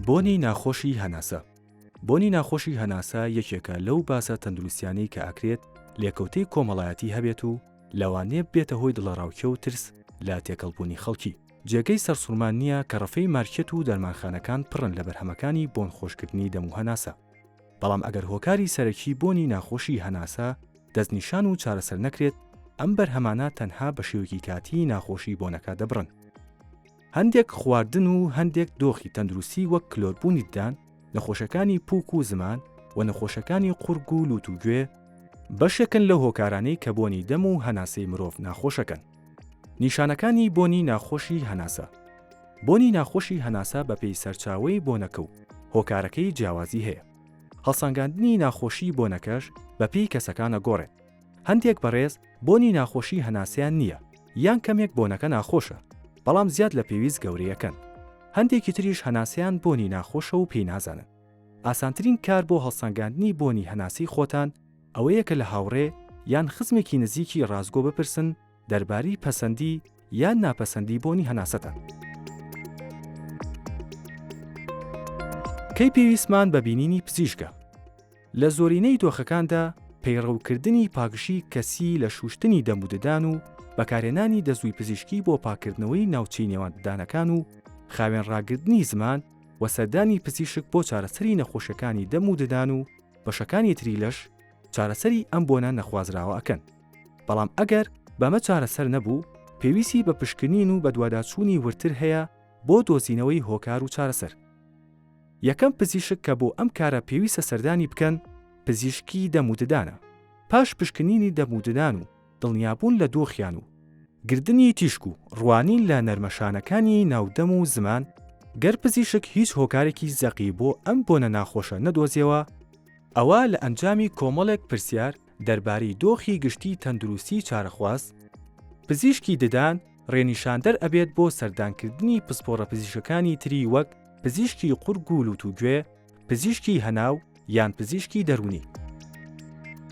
بۆنی ناخۆشی هەناسە بۆنی ناخۆشی هەناسە یەکێکە لەو باسە تەندروستیانەی کە ئاکرێت لێکەوتەی کۆمەڵایەتی هەبێت و لەوانێ بێتە هۆی دڵەڕاوکێ و ترس لە تێکەڵبوونی خەڵکی جێگەی سەرسوڕمان نییە کە ڕەفەی مارکێت و دەرمانخانەکان پڕن لە بەرهەمەکانی بۆن خۆشکردنی دەم و هەناسە بەڵام ئەگەر هۆکاری سەرەکی بۆنی ناخۆشی هەناسە دەستنیشان و چارەسەر نەکرێت ئەم بەرهەمانە تەنها بە شێوەکی کاتی ناخۆشی بۆنەکە دەبڕن. هەندێک خواردن و هەندێک دۆخی تەندروستی وەک کلۆربوونی ددان، نەخۆشەکانی پووک و زمان و نەخۆشەکانی قوڕگ و لووت و گوێ بەشێکن لەو هۆکارانەی کە بۆنی دەم و هەناسەی مرۆڤ ناخۆشەکەن. نیشانەکانی بۆنی ناخۆشی هەناسە بۆنی ناخۆشی هەناسە بەپێی سەرچاوەی بۆنەکە و هۆکارەکەی جیاوازی هەیە. هەڵسەنگاندنی ناخۆشی بۆنەکەش بەپێی کەسەکان ئەگۆڕێت. هەندێک بەڕێز بۆنی ناخۆشی هەناسەیان نییە یان کەمێک بۆنەکە ناخۆشە بەڵام زیاد لە پێویست گەورەیەکەن، هەندێکی تریش هەناسەیان بۆنی ناخۆشە و پێی نازانن. ئاسانترین کار بۆ هەڵسەنگاندنی بۆنی هەناسەی خۆتان ئەوەیە کە لە هاوڕێ یان خزمێکی نزیکی ڕاستگۆ بپرسن دەربارەی پەسەندی یان ناپەسەندی بۆنی هەناسەتان. کەی پێویستمان بە بینینی پزیشکە؟ لە زۆرینەی دۆخەکاندا پەیڕەوکردنی پاکژی کەسی لە شوشتنی دەم و ددان و بەکارهێنانی دەزووی پزیشکی بۆ پاککردنەوەی ناوچەی نێوان ددانەکان و خاوێن ڕاگرتنی زمان و سەردانی پزیشک بۆ چارەسەری نەخۆشیەکانی دەم و ددان و بەشەکانی تری لەش چارەسەری ئەم بۆنە نەخوازراوە ئەکەن. بەڵام ئەگەر بەمە چارەسەر نەبوو، پێویستی بە پشکنین و بەدواداچوونی وردتر هەیە بۆ دۆزینەوەی هۆکار و چارەسەر. یەکەم پزیشک کە بۆ ئەم کارە پێویستە سەردانی بکەن، پزیشکی دەم و ددانە. پاش پشکنینی دەم و ددان و دڵنیابوون لە دۆخیان و گردنی تیشک و ڕوانین لە نەرمەشانەکانی ناو دەم و زمان، گەر پزیشک هیچ هۆکارێکی زەقی بۆ ئەم بۆنە ناخۆشە نەدۆزیەوە، ئەوا لە ئەنجامی کۆمەڵێک پرسیار دەربارەی دۆخی گشتی تەندروستی چارەخواز، پزیشکی ددان رێنیشاندەر ئەبێت بۆ سەردانکردنی پسپۆڕە پزیشکەکانی تری وەک پزیشکی قورگ و لوت و گوێ، پزیشکی هەناو یان پزیشکی دەروونی.